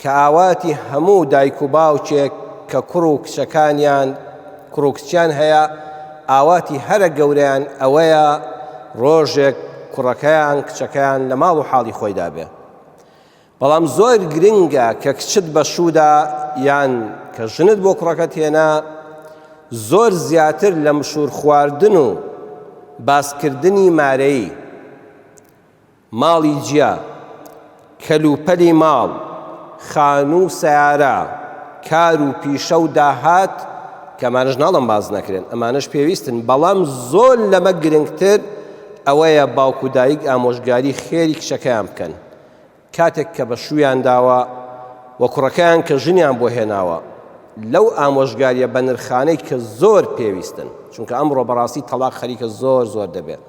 کە ئاواتی هەموو دایک و باوکێک کە کوڕ و کچەکانیان کوڕ و کچیان هەیە ئاواتی هەرە گەورەیان ئەوەیە ڕۆژێک کوڕەکەیان کچەکەیان لە ماڵ و حاڵی خۆیدا بێ بەڵام زۆر گرنگە کە کچت بە شوودا یان کە ژنت بۆ کوڕەکەت هێنا زۆر زیاتر لە مشور خواردن و باسکردنی مارەی ماڵی جیا، کەل و پەلی ماڵ، خانوو و سەیارە، کار و پیشە و داهات، کە ئەمانەش ناڵێم باس نەکرێن، ئەمانەش پێویستن، بەڵام زۆر لەمە گرنگتر ئەوەیە باوک و دایک ئامۆژگاری خێری کچەکەیان بکەن کاتێک کە بە شوویان داوە و کوڕەکەیان کە ژنیان بۆ هێناوە لەو ئامۆژگاریە بەنرخانەی کە زۆر پێویستن چونکە ئەمڕۆ بەڕاستی تەڵاق خەریکە زۆر زۆر دەبێت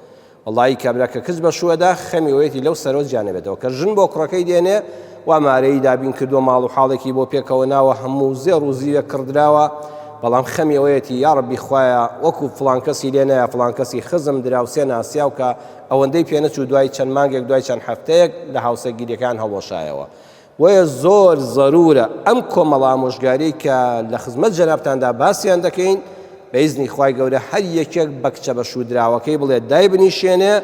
وەڵایی کابرا کە کچ بەشووەدا خەمی وەیەتی لەو سەرەوە جیا نەبێتەوە کە ژن بۆ کوڕەکەی دێنێ وا مارەیی دابین کردووە ماڵ و حاڵێکی بۆ پێکەوە ناوە هەموو زێڕ و زیوێک کڕدراوە بەڵام خەمی ئەوەیەتی یاڕەبی خوایە وەکو فڵان کەسی لێ نایە فڵان کەسی خزم دراوسێ ناسیاو کە ئەوەندەی پێنەچوو دوای چەند مانگێک دوای چەند هەفتەیەک لە هاوسەرگیریەکەیان هەڵوەشایەوە بۆیە زۆر زەرورە ئەم کۆمەڵە ئامۆژگاریەی کە لە خزمەت جەنابتاندا باسیان دەکەین بە ئیزنی خوای گەورە هەر یەکێک بە کچە بە شوودراوەکەی بڵێت دای بنیشێنێ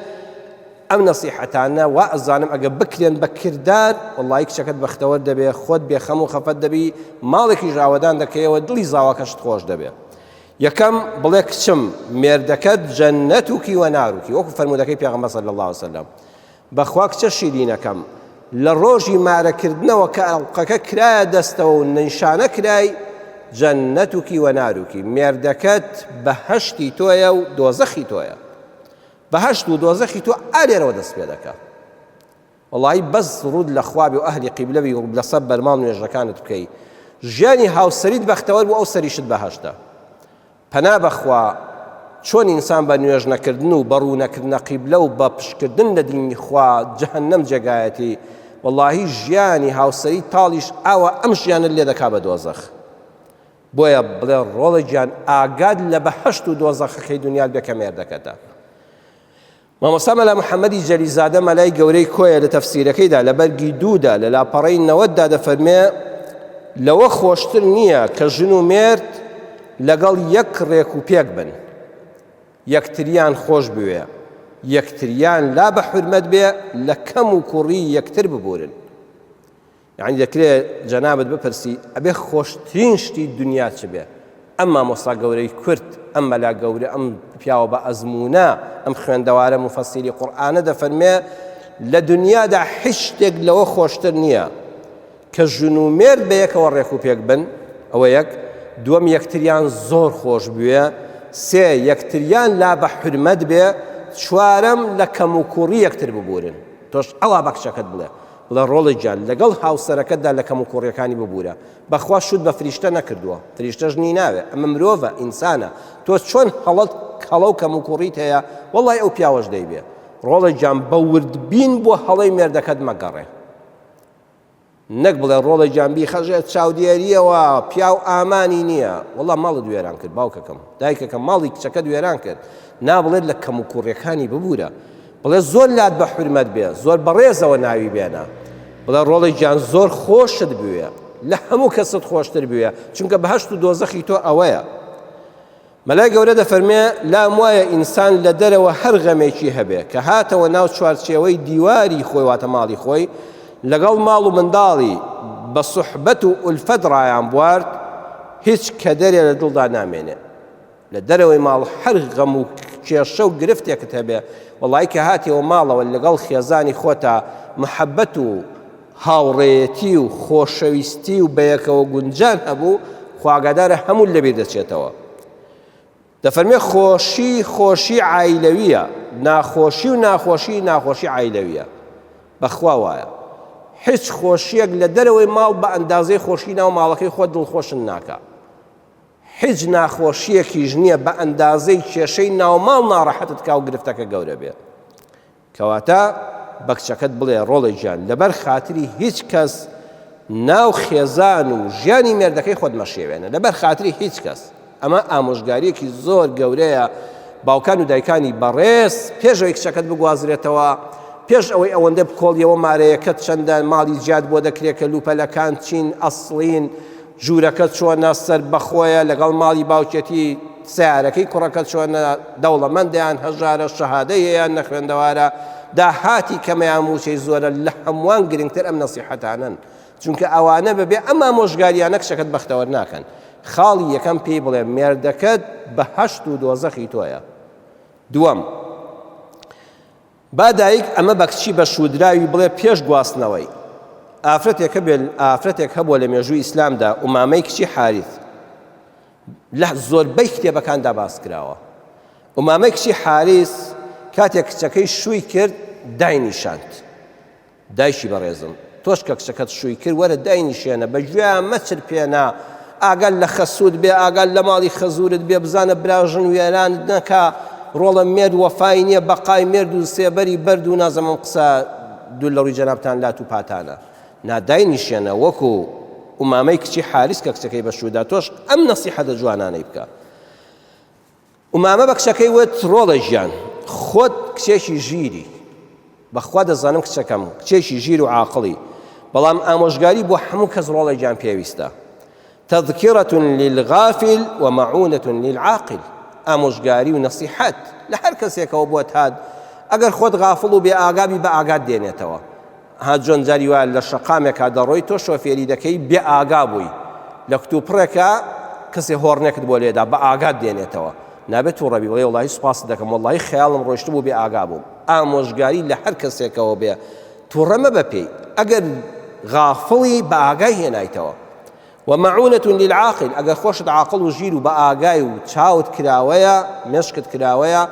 ئەم نەسیحەتانە وا ئەزانم ئەگە بکرێن بە کردار وڵی کچەکەت بەختەوە دەبێ خۆت بێخەم و خەفەت دەبی ماڵێکی ژاوەدان دەکەیەوە دڵی زاواکەشت خۆش دەبێ یەکەم بڵێ کچم مێردەکەت جەنەت و کیوە ناروکی وەکو فەرمودەکەی پێغەمبەر صلی الله وسلم بەخوا کچە شیرینەکەم لە ڕۆژی مارە کردنەوە کە ئەڵقەکە کرایە دەستەوە و نشانە کرای جەنەتوکی وەناروکی مێردەکەت بەهەشتی تۆیە و دۆزەخی تۆیە بەهەشت و دۆزەخی تۆ ئالێرەوە دەست پێ دەکە وڵی بەس ڕوود لە خوابی و ئەهلی قیبلەوی و لەسە بەرماڵ نوێژەکانت بکەی ژیانی هاوسەریت بەختەوەر بۆ ئەو سەریشت بەهشتە پەنا بەخوا چۆن ئینسان بە نوێژ نەکردن و بە ڕوونەکردنە قیبلە و بە پشتکردن لە دینی خوا جەهەنەم جێگایەتی وەڵاهی ژیانی هاوسەری تاڵیش ئاوا ئەم ژیانەت لێ دەکا بە دۆزەخ بۆیە بڵێ ڕۆڵە گیان ئاگات لە بەهەشت و دۆزەخەکەی دونیات بێ کە مێردەکەتە مامۆستا مەلا محەمەدی جەلیزادە مەلای گەورەی کۆیە لە تەفسیرەکەیدا لە بەرگی دوودا لە لاپەڕەی نەوەتدا دەفەرمێ لەوە خۆشتر نییە کە ژن و مێرد لەگەڵ یەک ڕێک و پێک بن یەکتریان خۆش بوێ یەکتریان لا بە حرمەت بێ لە کەم و کوڕی یەکتر ببورن یانی دەکرێ جەنابت بپرسی ئەبێ خۆشترین شتی دنیا چ بێ؟ ئەم مامۆستا گەورەی کورد، ئەم مەلا گەورە، ئەم پیاوە بە ئەزموونە، ئەم خوێندەوارە موفەسیری قورئانە دەفەرمێ لە دنیادا هیچ شتێک لەوە خۆشتر نییە کە ژن و مێرد بە یەکەوە ڕێک و پێک بن، ئەوە یەک، دووەم یەکتریان زۆر خۆش بوێ، سێ یەکتریان لا بە حورمەت بێ، چوارەم لە کەموکووڕی یەکتر ببوورن. تۆش ئەوا بە کچەکەت بڵێ لە ڕۆڵێکجا لەگەڵ هاوسەرەکەتدا لە کەموکوڕیەکانی ببورە بەخوا شوت بە فریشتە نەکردووە فریشتەش نی ناوێ ئەمە مرۆڤە ئینسانە تۆ چۆن هەڵەت هەڵەو کەموکوڕیت هەیە وەڵای ئەو پیاوەش دەیبێ ڕۆڵێک جان بە وردبین بۆ هەڵەی مێردەکەت مەگەڕێ نەک بڵێ ڕۆڵە جانبی خەژێت چاودێریەوە پیاو ئامانی نییە وڵا ماڵت وێران کرد باوکەکەم دایکەکە ماڵی کچەکەت وێران کرد نابڵێت لە کەم و کوڕەکانی ببوورە بڵێ زۆر لات بە حورمەت بێ زۆر بەڕێزەوە ناوی بێنە بڵێ ڕۆڵی گیان زۆر خۆشت بوێ لە هەموو کەست خۆشتر بوێ چونکە بەهشت و دۆزەخی تۆ ئەوەیە مەلای گەورە دەفەرمێ لام وایە ئینسان لە دەرەوە هەر غەمێکی هەبێ کە هاتەوە ناو چوارچێوەی دیواری خۆی واتە ماڵی خۆی لەگەڵ ماڵ و منداڵی بە سوحبەت و ئولفەت ڕایان بوارد هیچ کەدەرێ لە دڵدا نامێنێ لە دەرەوەی ماڵ هەر غەم و کێشە و گرفتێکت هەبێ وەڵایی کە هاتیەوە ماڵەوە لەگەڵ خێزانی خۆتا محەبەت و هاوڕێیەتی و خۆشەویستی و بەیەکەوە گونجان هەبوو خواگادارە هەموو لەبیر دەچێتەوە دەفەرمێ خۆشی خۆشی عیلەویە ناخۆشی و ناخۆشی ناخۆشی عیلەویە بەخوا وایە هیچ خۆشیەک لە دەرەوەی ماڵ بە ئەندازەی خۆشی ناو ماڵەکەی خۆ دڵخۆشن ناکە هیچ ناخۆشیەکیش نیە بە ئەندازەی کێشەی ناوماڵ ناڕەحەتت کا و گرفتەکە گەورە بێت کەواتە بە کچەکەت بڵێ ڕۆڵە گیان لەبەر خاتری هیچ کەس ناو خێزان و ژیانی مێردەکەی خۆت مەشێوێنە لەبەر خاتری هیچ کەس ئەمە ئامۆژگاریەکی زۆر گەورەیە باوکان و دایکانی بەڕێز پێشەوەی کچەکەت بگوازرێتەوە پێش ئەوەی ئەوەندە بکۆڵیەوە مارەیەکەت چەندە ماڵی زیاد بۆ دەکرێت کە لوپەلەکان چین ئەسڵین ژوورەکە چۆنە سەربەخۆیە لەگەڵ ماڵی باوکێتی سەیارەکەی کوڕەکە چۆنە دەوڵەمەندە یان هەژارە شەهادەی هەیە یان نەخوێندەوارە داهاتی کەمە یان مووچەی زۆرە لە هەمووان گرنگتر ئەم نەسیحەتانەن چونکە ئەوانە بەبێ ئەم ئامۆژگارییانە کچەکەت بەختەوەر ناکەن خاڵی یەکەم پێی بڵێ مێردەکەت بەهەشت و دۆزەخی تۆیە دووەم با دایک ئەمە بە کچی بە شوودراوی بڵێ پێش گواستنەوەی. ئافرەتێک هەبێت ئافرەتێک هەبووە لە مێژووی ئیسلامدا ئومامەی کچی حاریث لە زۆربەی کتێبەکاندا باس کراوە ئومامەی کچی حاریث کاتێک کچەکەی شووی کرد داینیشاند دایکی بەڕێزم تۆش کە کچەکەت شووی کرد وەرە داینیشێنە بە گوێیا مەچرپێنە ئاگات لە خەسووت بێ ئاگات لە ماڵی خەزوورت بێ بزانە براژن وێرانت نەکا ڕۆڵە مێرد وەفای نییە بەقای مێرد و سێبەری بەرد و نازەم ئەم قسە دوور لە ڕووی جەنابتان لات و پاتانە نا داینیشێنە وەکو ئومامەی کچی حاریس کە کچەکەی بە شوودا تۆش ئەم نەسیحەتە جوانانەی بکە ئومامە بە کچەکەی وت، ڕۆڵە گیان، خۆت کچێکی ژیری، بە خوا دەزانم کچەکەم کچێکی ژیر و عاقڵی، بەڵام ئامۆژگاری بۆ هەموو کەس ڕۆڵە گیان پێویستە، تذکرە للغافل و مەعونە للعاقل، ئامۆژگاری و نەسیحەت لە هەر کەسێکەوە بۆت هات، ئەگەر خۆت غافڵ و بێ ئاگا بی بە ئاگات دێنێتەوە. ها جۆن جاری وایە لە شەقامێکا دەڕۆی تۆ شۆفێری دەکەی بێ ئاگا بووی لە کتوپڕێکا کەسێ هۆڕنێکت بۆ لێدا بە ئاگات دێنێتەوە نابێت توڕەبی وڵی وڵی سوپاست دەکەم وڵی خەیاڵم ڕۆشت بوو بێ ئاگا بووم ئامۆژگاری لە هەر کەسێکەوە بێ توڕەمە بە پێی ئەگەر غافڵی بە ئاگای هێنایتەوە و معونە للعاقل ئەگەر خۆشت عاقڵ و ژیر و بە ئاگای و چاوت کراوەیە مێشکت کراوەیە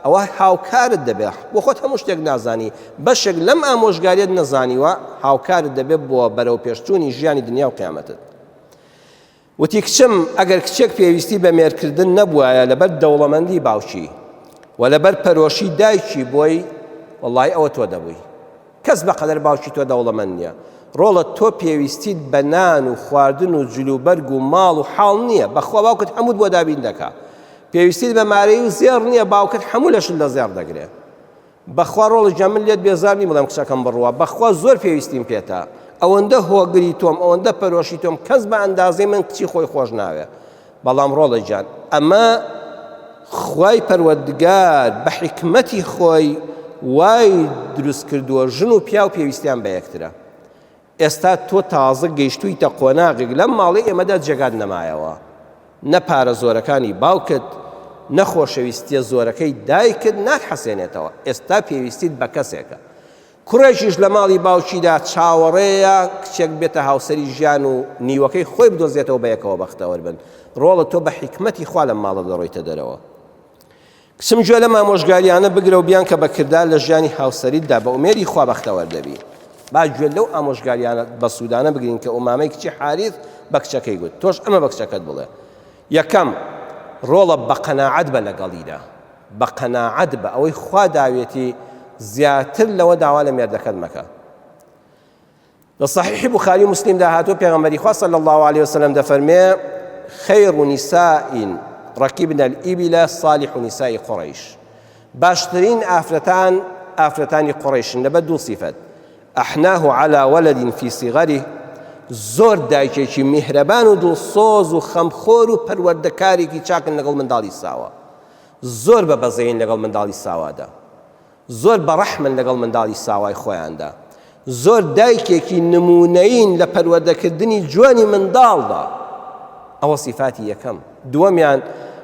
ئەوە هاوکارت دەبێ بۆ خۆت هەموو شتێک نازانی بەشێک لەم ئامۆژگاریت نەزانیوە هاوکارت دەبێت بۆ بەرەو پێشچوونی ژیانی دنیا و قیامەتت وتی کچم ئەگەر کچێک پێویستی بە مێرکردن نەبوایە لەبەر دەوڵەمەندی باوکی و لەبەر پەرۆشی دایکی بۆی وڵی ئەوە تۆ دەبووی کەس بەقەدەر باوکی تۆ دەوڵەمەند نیە ڕۆڵە تۆ پێویستیت بە نان و خواردن و جلوبەرگ و ماڵ و حاڵ نیە بەخوا باوکت هەمووت بۆ دابین دەکا پێویستیت بە مارەی و زێڕ نیە باوکت هەموو لەشت لە زێڕ دەگرێ بەخوا ڕۆڵە جە من لێت بێزار نیم بڵێم قسەکەم بڕوا بەخوا زۆر پێویستیم پێتە ئەوەندە هۆگری تۆم ئەوەندە پەرۆشی تۆم کەس بە ئەندازەی من کچی خۆی خۆش ناوێ بەڵام ڕۆڵە گیان ئەمە خوای پەروەردگار بە حیکمەتی خۆی وای دروست کردووە ژن و پیاو پێویستیان بە یەکترە ئێستا تۆ تازە گەیشتوویتە قۆناغێک لەم ماڵی ئێمەدا جێگات نەمایەوە نە پارە زۆرەکانی باوکت نەخۆشەویستیە زۆرەکەی دایکت ناک حەسێنێتەوە ئێستا پێویستیت بە کەسێکە کوڕێکیش لە ماڵی باوکیدا چاوەڕێیە کچێک بێتە هاوسەری ژیان و نیوەکەی خۆی بدۆزێتەوە بەیەکەوە بەختەوەر بن، ڕۆڵە تۆ بە حیکمەتی خوا لەم ماڵە دەڕۆیتە دەرەوە. کچم گوێ لەم ئامۆژگارییانە بگرە و بیانکە بە کردار لە ژیانی هاوسەریتدا، بە ئومێدی خوا بەختەوەر دەبی. با گوێ لەو ئامۆژگارییانە بەسوودانە بگرین کە ئومامەی کچی حاریث بە کچەکەی گوت، تۆش ئەمە بە کچەکەت بڵێ، یەکەم، ڕۆڵە بە قەناعەت بە لەگەڵیدا. بە قەناعەت بە ئەوەی خوا داویەتی زیاتر لەوە داوا لە مێردەکەت مەکە لە صحیح بخاری مسلم دا هاتوو پێغمبەری خوا صلی الله عليه وسلم دەفەرمێ خیر نساء ركبنا الإبل صالح نساء قريش باشترین ئافرەتان ئافرەتانی قڕیشن لەبە دوو سیفەت ئەحناه على ولد في صغره زۆر دایکێکی میهرەبان و دڵسۆز و خەمخۆر و پەروەردەکارێکی چاکن لەگەڵ منداڵی ساوە زۆر بە بەزەیین لەگەڵ منداڵی ساوادا. زۆر بە ڕەحمن لەگەڵ منداڵی ساوای خۆیاندا. زۆر دایکێکی نموونەیین لە پەروەردەکردنی جوانی منداڵدا. ئەوە سیفاتی یەکەم. دووەمیان،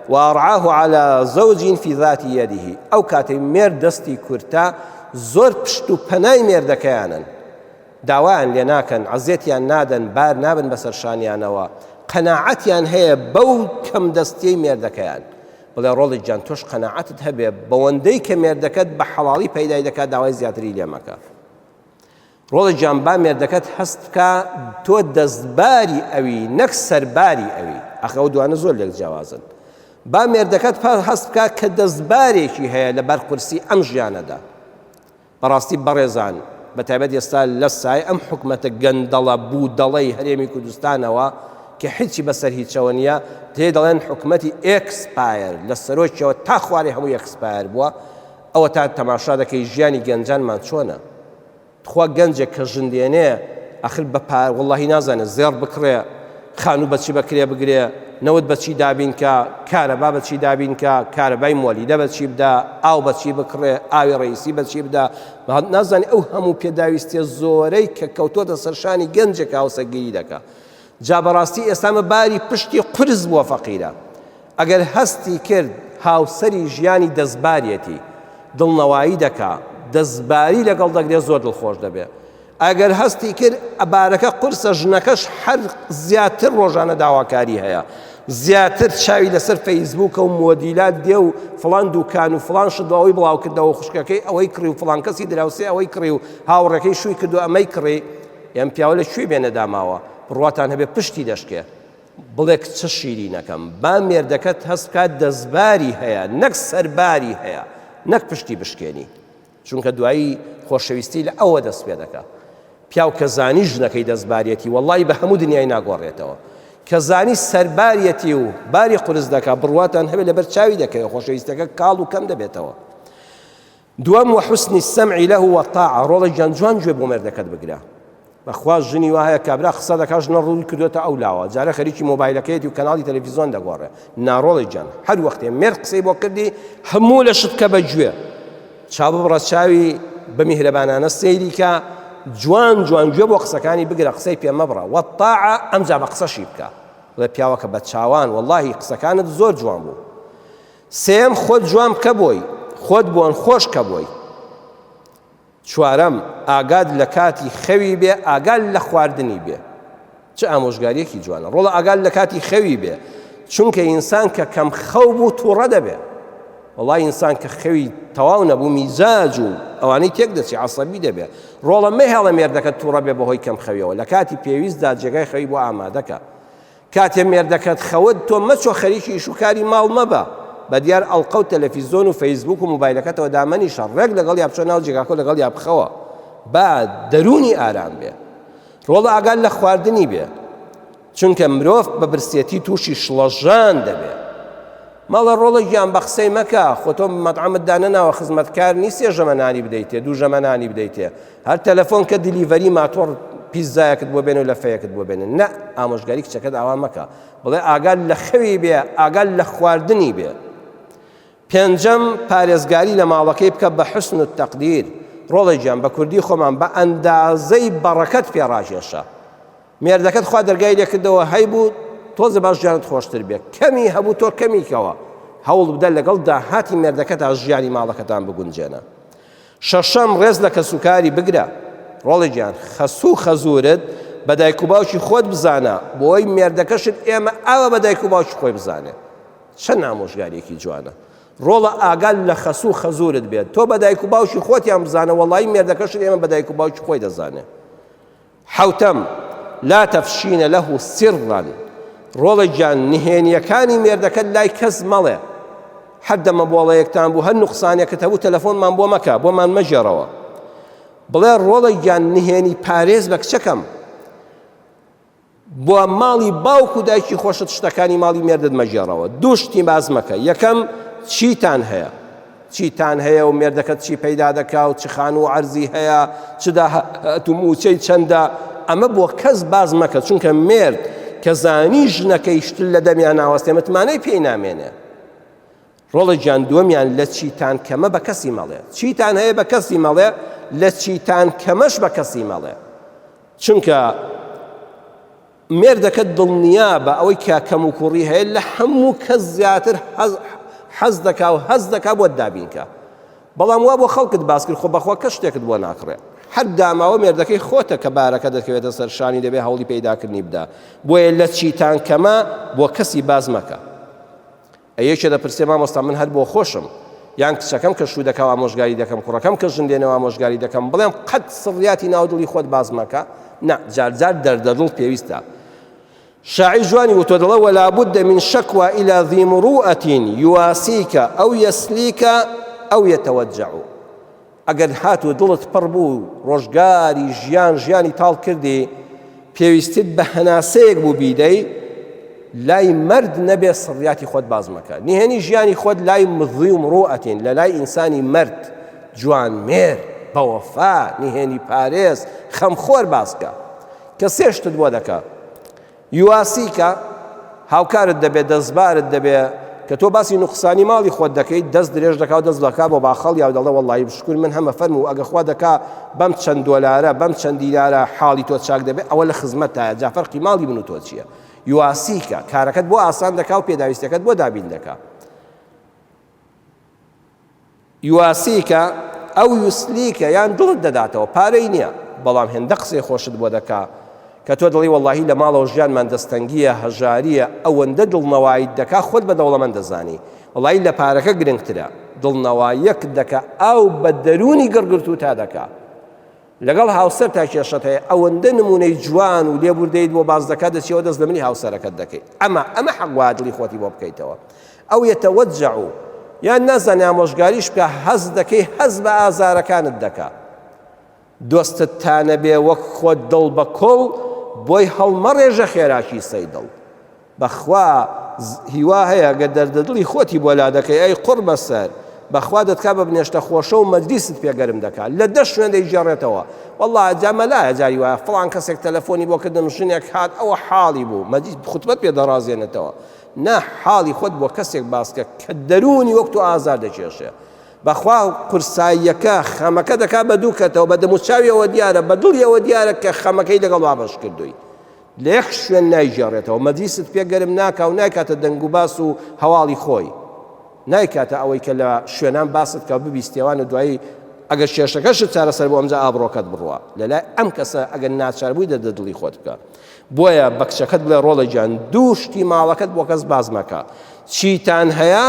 وارعاه علی زوج فی ذات یده، ئەو کاتەی مێرد دەستی کورتە زۆر پشت و پەنای مێردەکەیانن. داوایان لێ ناکەن، عەزێتیان نادەن، بار نابن بەسەر شانیانەوە، قەناعەتیان هەیە بەو کەمدەستیەی مێردەکەیان. بڵێ ڕۆڵیک جان تۆش قەناعەتت هەبێ بەوەندەی کە مێردەکەت بە حەڵاڵی پەیدای دەکا داوای زیاتری لێ مەکە. ڕۆڵیک جان با مێردەکەت هەست بکا تۆ دەستباری ئەوی نەک سەرباری ئەوی، ئاخ ئەو دوانە زۆر لێک جیاوازن. با مێردەکەت هەست بکا کە دەستبارێکی هەیە لەبەر قورسی ئەم ژیانەدا. بەڕاستی بەڕێزان بەتایبەت ئێستا لەسای ئەم حکومەتە گەندەڵە بودەڵەی هەرێمی کوردستانەوە کە هیچی بەسەر هیچەوە نیە پێی دەڵێن حکومەتی ئێکسپایر لە سەرۆکیەوە تا خوارێ هەموو ئێکسپایر بووە ئەوە تا تەماشا دەکەی ژیانی گەنجانمان چۆنە تخوا گەنجێک کە ژندێنێ ئەخر بە پار وڵی نازانێت زێڕ بکڕێ خانوو بەچی بەکرێ بگرێ، نەوت بەچی دابین کا، کارەبا بەچی دابین کا، کارەبای مۆلیدە بەچی بدا، ئاو بەچی بکڕێ، ئاوی ڕەیسی بەچی بدا، نازانێ ئەو هەموو پێداویستیە زۆرەی کە کەوتۆتە سەر شانی گەنجێک هاوسەگیری دەکا. جا بەڕاستی ئێستا ئەمە باری پشتی قورس بووە فەقیرە ئەگەر هەستی کرد هاوسەری ژیانی دەستبارێتی دڵنەوایی دەکا دەستباری لەگەڵ دەگرێ زۆر دڵخۆش دەبێ. ئەگەر هەستی کرد بارەکە قورسە ژنەکەش هەر زیاتر ڕۆژانە داواکاری هەیە زیاتر چاوی لەسەر فەیسبووکە و مۆدیلات دێ و فلان دوکان و فلان شت ئەوەی بڵاوکردەوە خوشکەکەی ئەوەی کڕی و فلان کەسی دراوسێ ئەوەی کڕی و هاوڕێکەی شووی کرد و ئەمەی کڕی ئەم پیاوە لە کوێ بێنە داماوە بڕواتان هەبێ پشتی دەشکێ بڵێک چ شیرینەکەم با مێردەکەت هەست بکات دەستباری هەیە نەک سەرباری هەیە نەک پشتی بشکێنی چونکە دوایی خۆشەویستی لە ئەوە دەست پێ دەکا پیاو کە زانی ژنەکەی دەستبارەتی وەڵی بە هەموو دنیای ناگۆڕێتەوە کە زانی سەربارەتی و باری قرس دەکا بڕواتان هەبێت لەبەر چاوی دەکەوێت خۆشەویستەکە کاڵ و کەم دەبێتەوە دوام وە حوسنی سەمعی لە وەتاع ڕۆڵە گیان جوان گوێ بۆ مێردەکەت بگرە بەخوا ژنی وا هەیە کابرا قسە دەکات ژنە ڕووی کردۆتە ئەو لاوە جارێ خەریکی مۆبایلەکەیەتی و کەناڵی تەلەفیزۆن دەگۆڕێ ناڕۆڵی جان هەر وەختێ مێر قسەی بۆ کردی هەموو لە شت کە بە گوێ چاو بڕە چاوی بە میهرەبانانە سەیری کە جوان جوان گوێ بۆ قسەکانی بگرە قسەی پێ مەبڕە وەتاعە ئەمجا بە قسەشی بکە بڵێ پیاوەکە بە چاوان واللهی قسەکانت زۆر جوان بوو سێم خۆت جوان بکە بۆی خۆت بۆن خۆش کە بۆی چوارەم، ئاگات لە کاتی خەوی بێ ئاگا لە خواردنی بێ. چ ئامۆژگاریەکی جوانە. ڕۆڵە ئاگات لە کاتی خەوی بێ. چونکە ئینسان کە کەم خەو بوو توڕە دەبێ. وەڵا ئینسان کە خەوی تەواو نەبوو میزاج و ئەوانەی تێک دەچێ عەسەبی دەبێ. ڕۆڵە مەهێڵە مێردەکەت توڕە بێ بەهۆی کەم خەویەوە. لە کاتی پێویستدا جێگای خەوی بۆ ئامادەکە. کاتێ مێردەکەت خەوت تۆ مەچۆ خەریکی ئیش و کاری ماڵ مەبە بەدیار ئەڵقە و تەلەفیزۆن و فەیسبووک و موبایلەکەتەوە دامەنیشە ڕێک لەگەڵیا بچۆ ناو جێگاکەو لەگەڵیا بخەوە با دەروونی ئارام بێ ڕۆڵە ئاگات لە خواردنی بێ چونکە مرۆڤ بە برسێتی تووشی شڵەژان دەبێ مەڵێ ڕۆڵە گیان بەقسەی مەکە خۆ تۆ مەتعەمت دانەناوە خزمەتکار نیست سێ ژەمە نانی بدەیتێ دوو ژەمە نانی بدەیتێ هەر تەلەفۆن کە دیلیڤەری ماتۆڕ پیززایەکت بۆ بێنێ و لە فەیەکت بۆ بێنێ نە ئامۆژگاری کچەکەت ئاوا مەکە بڵێ ئاگا لە خەوی بێ ئاگا لە خواردنی بێ پێنجەم پارێزگاری لە ماڵەکەی بکە بە حسن و تەقدیر ڕۆڵێکیان بە کوردی خۆمان بە ئەندازەی بەڕەکەت پێڕاژێشە مێردەکەت خوا دەرگای لێ کردەوە هەیبوو تۆزێ باش ژیانت خۆشتر بێ کەمی هەبوو تۆ کەمی کەوە هەوڵ بدە لەگەڵ داهاتی مێردەکەتا ژیانی ماڵەکەتان بگونجێنە شەشەم ڕێز لە کەسوکاری بگرە ڕۆڵی گیان خەسوو خەزورت بە دایک و باوکی خۆت بزانە بۆی مێردەکەشت ئێمە ئاوە بە دایک و باوکی خۆی بزانێت چەند نامۆژگارێکی جوانە ڕۆڵە ئاگال لە خەس و خەزورت بێت تۆ بە دایک و باوکی خۆتیان بزانە وەڵی مێردەکەشت ئێمە بە دایک و باوکی خۆی دەزانێت حەوتەم، لا تفشین له سرا، ڕۆڵە گیان نهێنییەکانی مێردەکەت لای کەس مەڵێ، هەر دەمەبۆڵەیەکتان بوو، هەر نوقسانێکت هەبوو تەلەفۆنمان بۆ مەکە، بۆمان مەگێڕەوە. بڵێ، ڕۆڵە گیان نهێنی پارێز بە کچەکەم، بۆ ماڵی باوک و دایکی خۆشت شتەکانی ماڵی مێردت مەگێڕەوە، دوو شتی باس مەکە، یەکەم، چیتان هەیە؟ چیتان هەیە و مێردەکەت چی پەیدا دەکا و چ خانوو و عەرزی هەیە، چ داهات و مووچەی چەندە، ئەمە بۆ کەس باس مەکە، چونکە مێرد کە زانی ژنەکەی شتل لە دەمیا ناوەستێ متمانەی پێی نامێنێ. ڕۆڵە گیان دووەمیان لە چیتان کەمە بە کەسی مەڵێ، چیتان هەیە بە کەسی مەڵێ، لە چیتان کەمەش بە کەسی مەڵێ، چونکە. مێردەکەت دڵنیابە ئەوەی کە کەموکوڕی هەیە لە هەموو کەس زیاتر حەز دەکا و هەست دەکا بۆت دابینکا بەڵام وا بۆ خەڵکت باس کرد خۆ بەخوا کەس شتێکت بۆ ناکڕێ هەر داماوە مێردەکەی خۆتە کە بارەکە دەکەوێتە سەر شانی دەبێ هەوڵی پەیداکردنی بدا بۆیە لە چیتان کەمە بۆ کەسی باز مەکە ئە یەکێ دەپرسێ مامۆستا من هەر بۆ خۆشم یان کچەکەم کە شوو دەکا و ئامۆژگاری دەکەم کوڕەکەم کە ژن دێنێ و ئامۆژگاری دەکەم بڵێم قەت سڕیاتی ناو دڵی خۆت باس مەکە نا جار جار دەردە دڵ پێویستە شاعر جوانی وتۆ دڵە ولا بد من شکوا إلى ذي مروءة يواسيك أو يسليك أو يتوجع ئەگەر هاتوو دڵت پڕ بوو و ڕۆژگاری ژیان ژیانی تاڵ کردی، پێویستت بە هەناسەیەک بوو بیدەی لای مەرد نەبێ سڕیاتی خۆت باس مەکە. نهێنی ژیانی خۆت لای مزوی و مڕوئەتین، لە لای ئینسانی مەرد، جوانمێر، بەوەفا، نهێنی پارێز، خەمخۆر باس کە. کە سێ شتت بۆ دەکا. یواسیکا، هاوکارت دەبێ، دەستبارت دەبێ، کە تۆ باسی نوقسانی ماڵی خۆت دەکەیت، دەست درێژ دەکا و دەست دەکا بۆ باخەڵیا و دەڵێ، وەڵڵاهی بشکوور من هەمە فەرموو و ئەگە خوا دەکا بەم چەند دۆلارە، بەم چەند دینارە حاڵی تۆ چاک دەبێ، ئەوە لە خزمەتتایە، جا فەرقی ماڵی من و تۆ چییە؟ یواسیکا، کارەکەت بۆ ئاسان دەکا و پێداویستییەکەت بۆ دابین دەکا. یواسیکە ئەو یوسلیکە یان دڵت دەداتەوە پارەی نیە بەڵام هێندە قسەی خۆشت بۆ دەکا کە تۆ دڵی وەڵاهی لە ماڵەوە ژیانمان دەستەنگیە هەژاریە ئەوەندە دڵنەوایت دەکا خۆت بە دەوڵەمەند دەزانی وەڵاهی لە پارەکە گرنگترە دڵنەواییەکت دەکا ئاو بە دەرونی گڕگرتووتا دەکا لەگەڵ هاوسەرتا کێشەت هەیە ئەوەندە نمونەی جوان و لێبوردەیت بۆ باس دەکات دەچیەوە دەست لەملی هاوسەرەکەت دەکەیت ئەمە ئەمە حەق وایە دڵی خۆتی بۆ بکەیتەوە ئەو یەتەوەجع یان نازانێ ئامۆژگاریش بکە هەست دەکەی هەست بە ئازارەکانت دەکا دۆستت تا نەبێ وەک خۆت دڵ بە کۆڵ بۆی هەڵمەڕێژە خێراکی سەی دڵ بەخوا هیوا هەیە گەر دەردە دڵی خۆتی بۆ لادەکەی ئەی قوڕ بەسەر بەخوا دەتکا بە بنێشتە خۆشە و مەجلیست پێ گەرم دەکا لە دە شوێن دەیگێڕێتەوە واللە جا مەلایە جاری وایە فڵان کەسێک تەلەفۆنی بۆ کردم ژنێک هات ئەوە حاڵی بوو مەجید خوتبەت پێ دەڕازێنێتەوە نا حاڵی خۆت بۆ کەسێک باسکە کە دەروونی وەک تۆ ئازار دەکێشێ بەخوا قورساییەکە خەمەکە دەکا بە دوو کەتەوە بە دەموچاویەوە دیارە بە دڵیەوە دیارە کە خەمەکەی لەگەڵ وابەش کردووی لە یەک شوێن نایگێڕێتەوە، مەجلیست پێ گەرم ناکا و نایکاتە دەنگوباس و هەواڵی خۆی، نایکاتە ئەوەی کە لە شوێنان باست کا و ببیستێوان و دوایی ئەگەر کێشەکەشت چارەسەر بوو ئەمجا ئابڕۆکەت بڕوا لە لای ئەم کەسە ئەگەر ناچار بووی دەردە دڵی خۆت بکە بۆیە بە کچەکەت بڵێ ڕۆڵە گیان دوو شتی ماڵەکەت بۆ کەس باس مەکە چیتان هەیە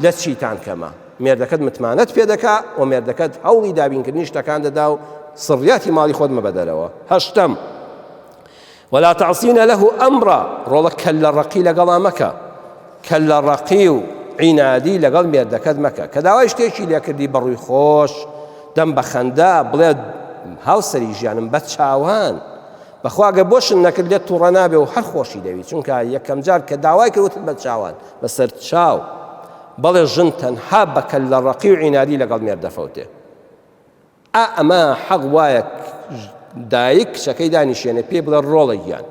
لە چیتان کەمە مێردەکەت متمانەت پێ دەکا و مێردەکەت هەوڵی دابینکردنی شتەکان دەدا و سڕیاتی ماڵی خۆت مەبەدەرەوە هەشتم ولا تعصین له امرا ڕۆڵە کەللە ڕەقی لەگەڵا مەکە کەللە ڕەقی و عینادی لەگەڵ مێردەکەت مەکە کە داوای شتێکی لێکردی بەڕووی خۆش دەم بە خەندا بڵێ هاوسری ژیانم بە چاوان بەخواگە بۆشن نەکرد لێت توڕە نابێ و هەر خۆشی دەوی چونکە یەکەم جار کە داوای کەوتن بە چاوان بەسەر چاو بەڵێ ژن تەنها بەکەل لە ڕقی و عیناری لەگەڵ مێر دەفەوتێ ئا ئەمە حەق وایە دایک کچەکەی دانیشێنێ پێی بڵێ ڕۆڵە گیان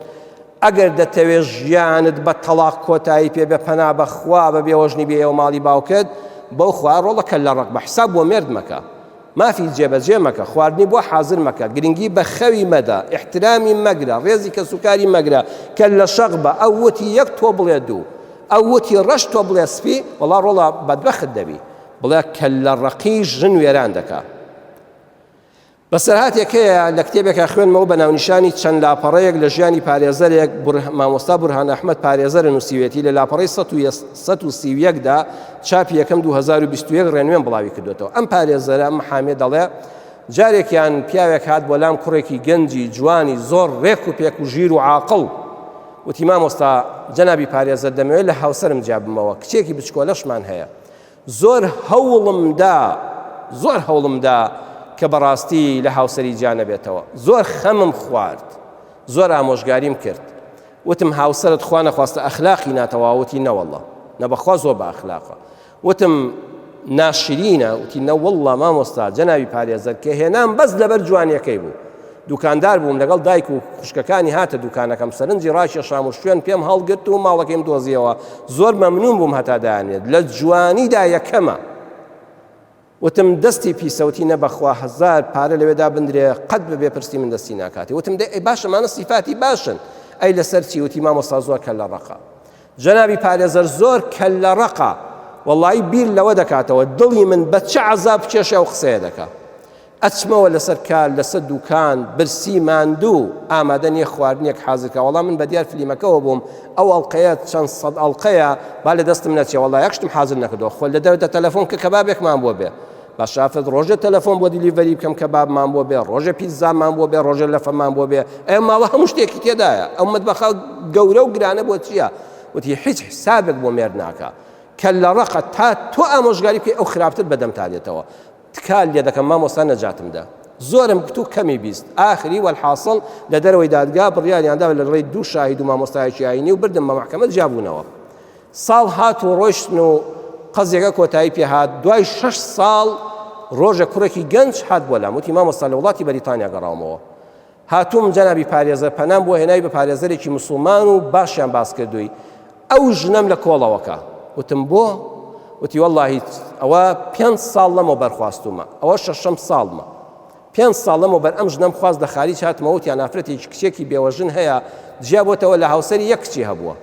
ئەگەر دەتەوێ ژیانت بە تەڵاق کۆتایی پێ بە پەنا بەخوا بە بێوەژنی بێەوە ماڵی باوکت بەو خوا ڕۆڵە کە لە ڕق بە حساب بۆ مێرد مەکە مافی جێبەجێ مەکە خواردنی بۆ حازر مەکە گرنگی بە خەوی مەدە احترامی مەگرە ڕێزی کە سوکاری مەگرە کە لە شەق بە ئەو وتی یەک تۆ بڵێ دوو ئەو وتی ڕەش تۆ بڵێ سپی وڵا ڕۆڵە بەدبەخت دەبی بڵێ کەللە ڕەقی ژن وێران دەکا. بەسەرهاتێک هەیە لە کتێبێکا خوێنمەوە بە ناونیشانی چەند لاپەڕەیەک لە ژیانی پارێزەرێک مامۆستا بورهان ئەحمەد پارێزەرە نووسیوێتی لە لاپەڕەی 1970 دا چاپی یەکەم 2021 ڕێنوێن بڵاوی کردوێتەوە ئەم پارێزەرە ئەم حامێ دەڵێ جارێکیان پیاوێک هات بۆ لام کوڕێکی گەنجی جوانی زۆر ڕێک و پێک و ژیر و عاقڵ وتی مامۆستا جەنابی پارێزەر دەمەوێت لە هاوسرم جابمەوە کچێکی بچکۆلەشمان هەیە زۆر هەوڵم دا زۆر هەوڵم دا کە بەڕاستی لە هاوسەری جیا نەبێتەوە زۆر خەمم خوارد زۆر ئامۆژگاریم کرد وتم هاوسەرت خوا نەخواستە ئەخلاقی ناتەواوەتی نەوەڵڵە نەبەخوا زۆر بە ئەخلاقە وتم ناشرینە وتی نەوەڵڵا مامۆستا جەنابی پارێزەر کە هێنام بەس لەبەر جوانیەکەی بوو دوکاندار بووم لەگەڵ دایک و خوشکەکانی هاتە دوکانەکەم سەرنجی ڕاکێشام و شوێن پێم هەڵگرت و ماڵەکەیم دۆزیەوە زۆر مەمنون بووم هەتا دایانێت لە جوانیدا یەکەمە وتم دەستی پیسەوتی نەبەخوا هزار پارە لەوێدا بندرێ قەت بە بێپرسی من دەستی ناکاتی وتم دە ئەی باشەمانە سیفاتی باشن ئەی لەسەر چی وتی مامۆستا زۆر کە لە ڕقا جەنابی پارێزەر زۆر کە لە ڕقا وەڵی بیر لەوە دەکاتەوە دڵی من بە چ عذاب کێشە و قسەیە دەکە ئەچمەوە لەسەر کار لەسە دوکان برسی ماندوو ئامادە نیە خواردنێک حازرکە وەڵا من بەدیار فلیمەکەوە بووم ئەو ئەڵلقەیە چەند سەد ئەڵلقەیە با لە دەستم نەچێ وەڵا یەک شتم حازر نەکردەوە خۆل لە دەوتە تەلەفۆن کە کەبابێکمان بۆ بێ بە شافت ڕۆژێ تەلەفۆن بۆ دیلیڤەری بکەم کە بابمان بۆ بێ ڕۆژە پیززامان بۆ بێ ڕۆژە لەفەمان بۆ بێ ئەم ماوە هەموو شتێکی تێدایە ئەو مدبەخە گەورە و گرانە بۆ چییە وتی هیچ حسابێک بۆ مێر ناکە کە لە ڕقە تا تۆ ئامۆژگاری بکەی ئەو خراپتر بەدەمتانێتەوە تکال لێ دەکەم مامۆستا نەجاتم دە زۆرم گوت و کەمی بیست ئاخری وەلحاصل لە دەرەوەی دادگا بڕیاریاندا لە ڕێی دوو شاهید و مامۆستایەکی ئاینی و بردم بە محکمە جیابوونەوە ساڵ هات و ڕۆشتن و قەزیەکە کۆتایی پێهات دوای شش ساڵ ڕۆژە کوڕێکی گەنج هات بۆ لام وتی مامۆستا لە وڵاتی بەریتانیا گەڕاومەوە هاتووم جەنابی پارێزەر پەنام بۆ هێناوی بە پارێزەرێکی مسوڵمان و باشیان باس کردووی ئەو ژنەم لە کۆڵەوەکە وتم بۆ وتی واللهی ئەوە پێ ساڵ لەمەوە بەرخواستومە ئەوە شەشەم ساڵمە پێ ساڵ لەمەوە بەر ئەم ژنەم خواست لە خاریج هاتمەوەتیان نافرەتێکی کچێکی بێوەژن هەیە جیابەتەوە لە هاوسەری یەک کچی هەبووە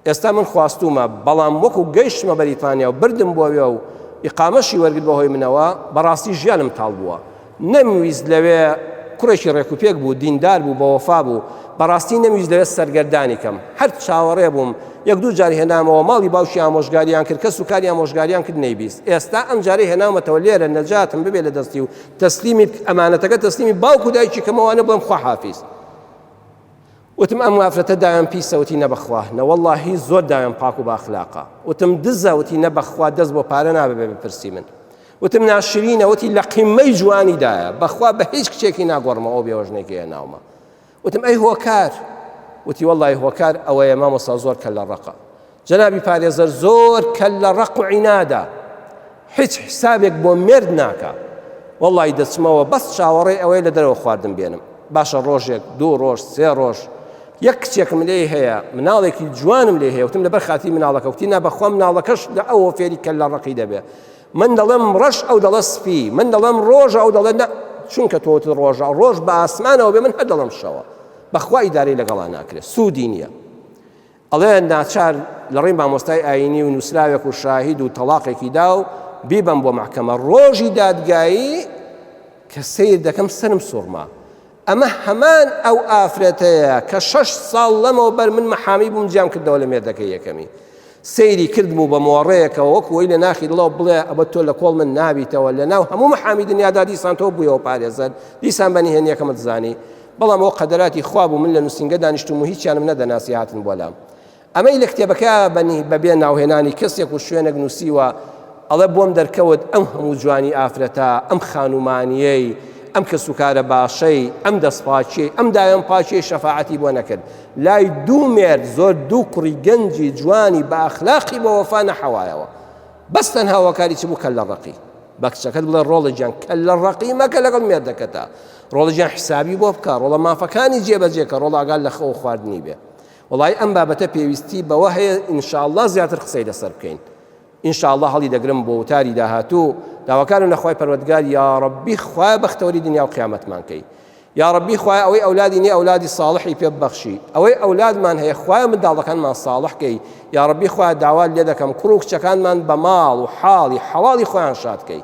ئێستا من خواستوومە، بەڵام وەکو گەیشتمە بەریتانیا و بردم بۆوێ و ئیقامەشی وەرگرت بەهۆی منەوە، بەڕاستی ژیانم تاڵ بووە. نەمویست لەوێ، کوڕێکی رێکوپێک بوو، دیندار بوو، بەوەفا بوو، بەڕاستی نەمویست لەوێ سەرگەردانی کەم. هەر چاوەڕێ بووم، یەک دوو جار هێنامەوە ماڵی باوکی ئامۆژگاریان کرد، کەس و کاری ئامۆژگاریان کرد نەیبیست. ئێستا ئەم جارەی هێناومەتەوە لێرە نەجاتم ببێ لە دەستی و تەسلیمی بکە، ئەمانەتەکە تەسلیمی باوک و دایکی کەمەوە وانە بڵێم خواحافیز. وتم ئەم وافرەتە داوێن پیسە وتی نەبەخوا نەوەڵا هی زۆر داوێن پاک و باخلاقە وتم دزە وتی نەبەخوا دەست بۆ پارە نابێ بێ بپرسی من وتم ناشرینە وتی لە قیممەی جوانی دایە بەخوا بە هیچ کچێکی ناگۆڕمە ئەو بێوەژنێکی هێ ناومە وتم ئەی هۆکار وتی وەڵی هۆکار ئەوەیە مامۆستا زۆر کە لە ڕقە جەنابی پارێزەر زۆر کەللە ڕەق و عینادە هیچ حسابێک بۆ مێرد ناکا وەڵی دەچمەوە بەس چاوەڕێ ئەوەی لە دەرەوە خواردن بێنم باشە ڕۆژێک دوو ڕۆژ سێ ڕۆژ یەک کچێکم لێ هەیە مناڵێکی جوانم لێ هەیەوتم لەبەر خاتی مناڵەکەوتی نا بەخوا مناڵەکەش لە ئەوە فێری کە لە ڕقی دەبێت من دەڵێم ڕەش ئەو دەڵە سپی من دەڵێم ڕۆژە ئەو دەڵێت چونکە تۆت ڕۆژە ڕۆژ بە ئاسمانەوە بێ من هەدەڵم شەوە بەخوای داری لەگەڵا ناکرێت سوودی نییە ئەڵێن ناچار لەڕێی مامۆستای ئاینی و نووسراوێک و شاهید و تەڵاقێکی دا و بیبەم بۆ مەحکەمە ڕۆژی دادگایی کە سیر دەکەم سرم سوڕما ئەمە هەمان ئەو ئافرەتەیە کە شەش ساڵ لەمەوە بەر من مەحامی بووم جیام کردەوە لە مێردەکە یەکەمی سەیری کردم و بە مۆڕەیەکەوە وەکوی لە ناخی دڵەوە بڵێ ئەبە تۆ لە کۆڵ من نابیتەوە لە ناو هەموو محامی دنیادا دیسان تۆ بوویەوە پارێزەر دیسان بەنی هێنیەکەمت زانی بەڵام ئەوە قەدەراتی خوا بوو من لە نووسینگە دانیشتووم و هیچیانم نەدەناسی هاتن بۆ لام ئەمەی لە کتێبەکە بەنی بەبێ ناوهێنانی کەسێک و شوێنێک نووسیوە ئەڵە بۆم دەرکەوت ئەم هەموو جوانی ئافرەتە ئەم خانومانیەی ئەم کە سوکارە باشەی ئەم دەستپاچی ئەم دایان پاچی شەفاعەتی بۆ نەکرد لای دوو مێرد زۆر دوو کوڕی گەنجی جوانی بە ئەخلاقی بە وەفا نەحەوایەوە بەس تەنها وەکاری چ بوو کە لە ڕقی بە کچەکەت بڵێ ڕۆڵە گیان کە لە ڕقی مەکە لەگەڵ مێردەکەتە ڕۆڵە جیان حسابی بۆ بکە ڕۆڵە مافەکانی جێبەجێکە ڕۆڵ ئاگال لە خەوە خواردنی بێ وڵی ئەم بابەتە پێویستی بەوە هەیە ئینشاءله زیاتر قسەی لەسەر بکەین ئینشاءله هەڵی دەگرم بۆ وتاری داهاتوو داواکانم لەخوای پەروەگار یاڕبی خوای بەختەوەری دنیا و قیامەتمانکەی یاڕبی خوای ئەوەی ئەولادی نیە ئەولادی ساڵحی پێ ببەخشی ئەوەی ئەولادمان هەیە خوای منداڵەکانمان ساڵحکەی یاڕبی خوای داوا لێ دەکەم کوڕ و کچەکانمان بە ماڵ و حاڵی حەواڵی خۆیان شادکەی